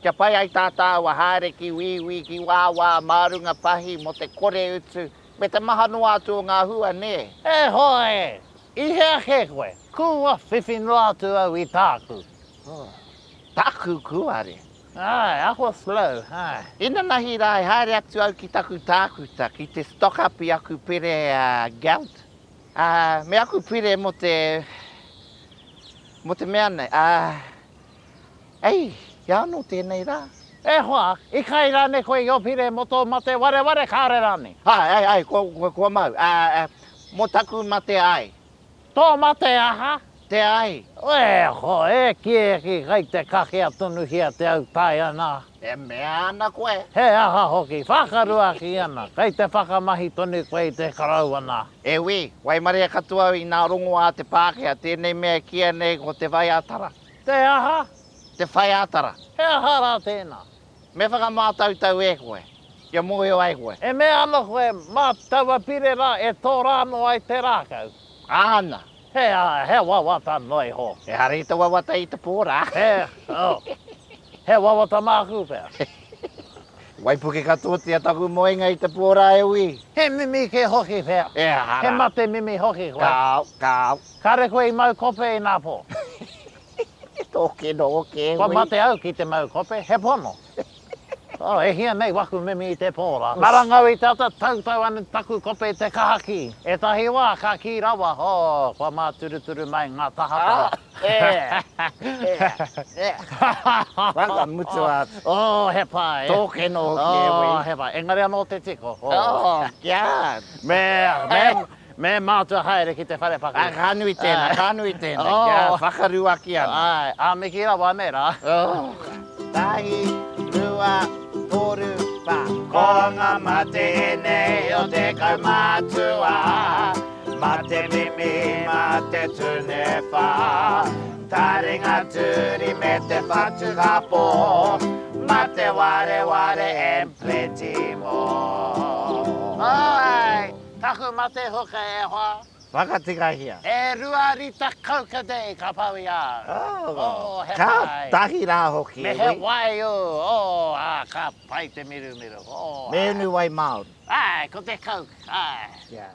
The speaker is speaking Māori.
Kia pai ai tā tāua haere ki wīwī, ki wāwā, mā runga pahī, mō te kore utu, me te maha noa atu o ngā hua, nē. E hoa e! I hea kē koe? Kua whiwhi noa atu au i tāku. Oh. Taku kūare. Āe, ako slow, āe. Inanahi rā, e haere atu au ki taku tākuta, ki te stock up i aku pire a Gelt, ā, me aku pire mō te, mō te mea nei, ā, Ei, i a anō tēnei rā. E hoa, i kai rānei koe i Opire mō tō mate wareware kāore rānei? Āe, āe, āe, kua, kua mau, ā, ā, mō taku mate āe. Tō mate aha? Te āe. E hoa, e kī, e kī, kai te kakea tonuhia te au tae ana. E mea ana koe. He aha hoki? Whakaruaki ana, kei te whakamahi tonu koe i te koroua nā. E wī, waimaria katoa au inā rongoā te Pākehā tēnei mea e kīia nei ko te whaiātara. Te aha? Te whaiātara. He aha rā tēnā? Me whakamātautau e koe, kia mōhio ai koe. E mea ana koe, mā taua pire rā e tōrāno ai te rākau. Āna, He, he wawata noa iho. Ehara i te wawata i te pō rā. He, oh, he wawata māku pea. Waipuke katoatia taku moenga i te pō rā e ui. He mimi kē hoki pea. Ehara. He mate mimi hoki koe. Kāo, kāo. Kāre koe i mau kope inā pō. Tō kino o kē hui. Kua mate au ki te mau kope, he pono. Oh, e hia nei waku mimi i te pō rā. Marangau i te ata, tautau ana taku kope i te kahaki. Ētahi wā, ka kī rawa, oh, kua māturuturu mai ngā tahataha. Waka mutua atu. Oh, he pā, eh? Tōkeno hoki, eh, wei? Oh, he pā. Engari anō te tiko. Oh, kia! Me, me, Me mātua haere ki te whare pakari. Ā, ka nui tēnā, ka nui tēnā, kia whakaruaki ana. Āe, ā, me kī rawa anei rā. Tahi, rua, toru, wha. Ko ngā mate ēnei o te kaumātua, mā te mimi, mā te tūnewha, taringa turi me te whatu kapo, mā te wareware and plenty more. Āe! Taku mate hoka e hoa. Whakatikahia. E rua rita kau ka day ka pau i a au. Oh, oh, he pai. Ka tahi ra hoki. Me he wai u, oh, a, ka pai te mirumiru, oh, a. Me unu wai Maori. Ai, ko te Coke, ai. Yeah.